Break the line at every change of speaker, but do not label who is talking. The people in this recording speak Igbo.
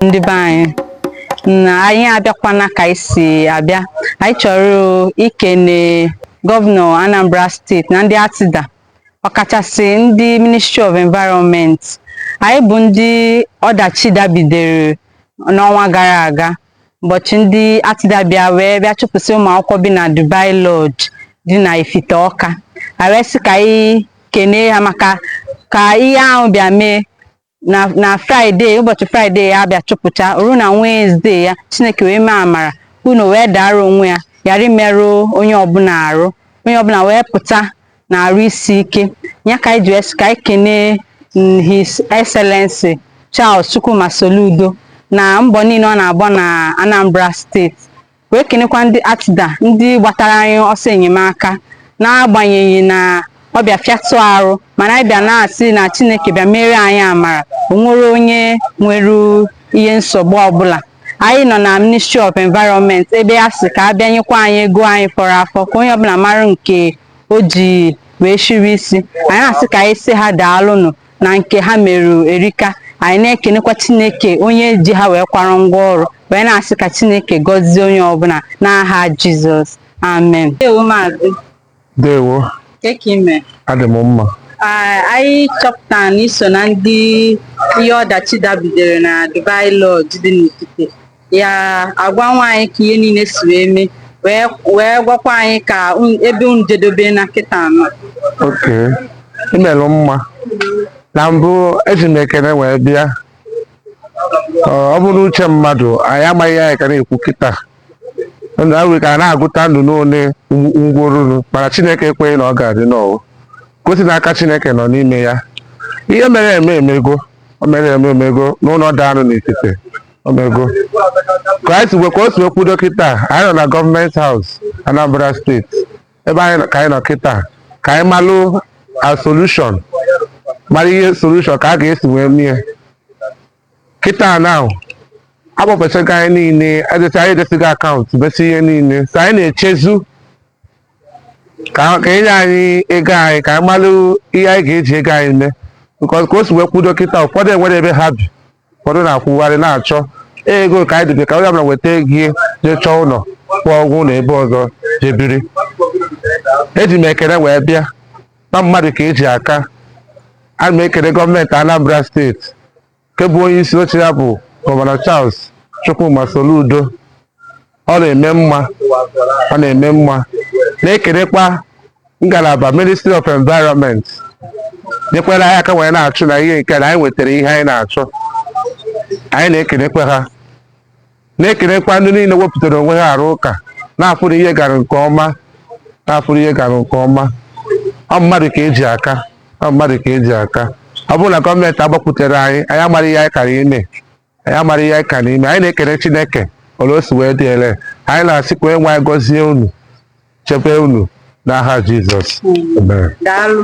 ndị be anyị anyị abịakwana ka anyị si abịa anyị chọrọ ikene gọvanọ Anambra steeti na ndị ACTDA ọkachasị ndị ministry of environment anyị bụ ndị ọdachi dabidere n'ọnwa gara aga ụbọchị ndị ACTDA bịa wee bịa chụpụsị ụmụ akwụkwọ bi na Dubai Lodge dị na Ifite Ọka a wee sị ka anyị kenee ha maka ka ihe ahụ bịa mee na na fraịde ụbọchị fraịde a bịa chụpụcha ruo na wenesde ya chineke wee mee amara ụnọ wee daara onwe ya ghara imerụ onye ọbụla arụ onye ọbụla wee pụta n'arụ isi ike ya ka anyị ji wee sị ka anyị kenee mm, His Excellency Charles Chukwuma Soludo na mbọ niile ọ na-agba na Anambra steeti wee kenekwa ndị ACTDA ndị gbatara anyị ọsọ enyemaka n'agbanyeghị na ọ bịa fịatụ arụ mana anyị bịa na-asị na Chineke bịa mere anyị amara o nwerọ onye nwere ihe nsogbu ọbụla anyị nọ na Ministry of Environment ebe a sị ka a bịa nyekwa anyị ego anyị fọrọ afọ ka onye ọbụla mara nke o ji wee shiri isi anyị na-asị ka anyị sị ha daalụnụ na nke ha mere erika anyị na-ekenekwa chineke onye ji ha wee kwara ngwa ọrụ wee na-asị ka chineke gọzie onye ọbụla n'aha jizọs amen ndewo maazị ndewo kee ka i me adị m mma Ah, anyị chọpụtara na i so na ndị ihe ọdachi dabidere na Dubai Lodge dị n'Ifite ya agwa nwa anyị ka ihe niile si wee mee wee wee gwakwa anyị ka un- ebe unu jedobe na kịta a nọ okay i melụ mma na mbụ eji m ekene wee bịa Ọ ọ bụ n'uche mmadụ anyị amaghị ihe anyị ka na-ekwu kịta ndụ ahụ ka a na-agụta ndị one nwụrụ mana chineke ekweghị na ọ ga-adị n'ọwụ gosi na aka chineke nọ n'ime ya ihe mere eme emego o mere eme emego na ụlọ daanụ n'etiti ọ dago ka anyị si ka o si kwụdo kịta anyị nọ na gọọmenti haus anambra steeti ebe anyị nọ- ka anyị nọ kịta ka anyị malụ a solushon mara ihe solushon ka a ga-esi wee mie kịta na a kpọfechago anyị niile edecha anyị e desigo akaụntụ desi ihe niile so anyị na-echezi ka ka e nye anyị ego anyị ka anyị malụ ihe anyị ga-eji ego anyị mee because ka o si wee kwụdo kịta ụfọdụ enwerọ ebe ha bi ụfọdụ na-akwụgharị na-achọ ego ka anyị dịbe ka onye ọbụla nweta ego ya jee chọọ ụlọ kwụọ ụgwọ ụlọ ebe ọzọ jee biri eji m ekele wee bịa na mmadụ ka e ji aka ana m ekele gọọmenti Anambra steeti nke bụ onye isi oche ya bụ gọvanọ Charles Chukwuma Soludo ọ na-eme mma ọ na-eme mma na-ekelekwa ngalaba ministry of environment nyekwara anyị aka wee na-achụ na ihe nke na anyị nwetara ihe anyị na-achọ anyị na-ekelekwa ha na-ekelekwa ndị niile wepụtara onwe ha arụ ụka na-afụrụ ihe gara nke ọma na-afụrụ ihe gara nke ọma ọ mmadụ ka e ji aka ọ mmadụ ka e ji aka ọ bụrụ na gọọmenti agbakwutere anyị anyị amara ihe anyị kara ime anyị amara ihe anyị kara ime anyị na-ekene chineke ole o si wee dị ele anyị na-asị ka onye nwe anyị gọzie unu chebe unu n'aha jizọs amen daalụ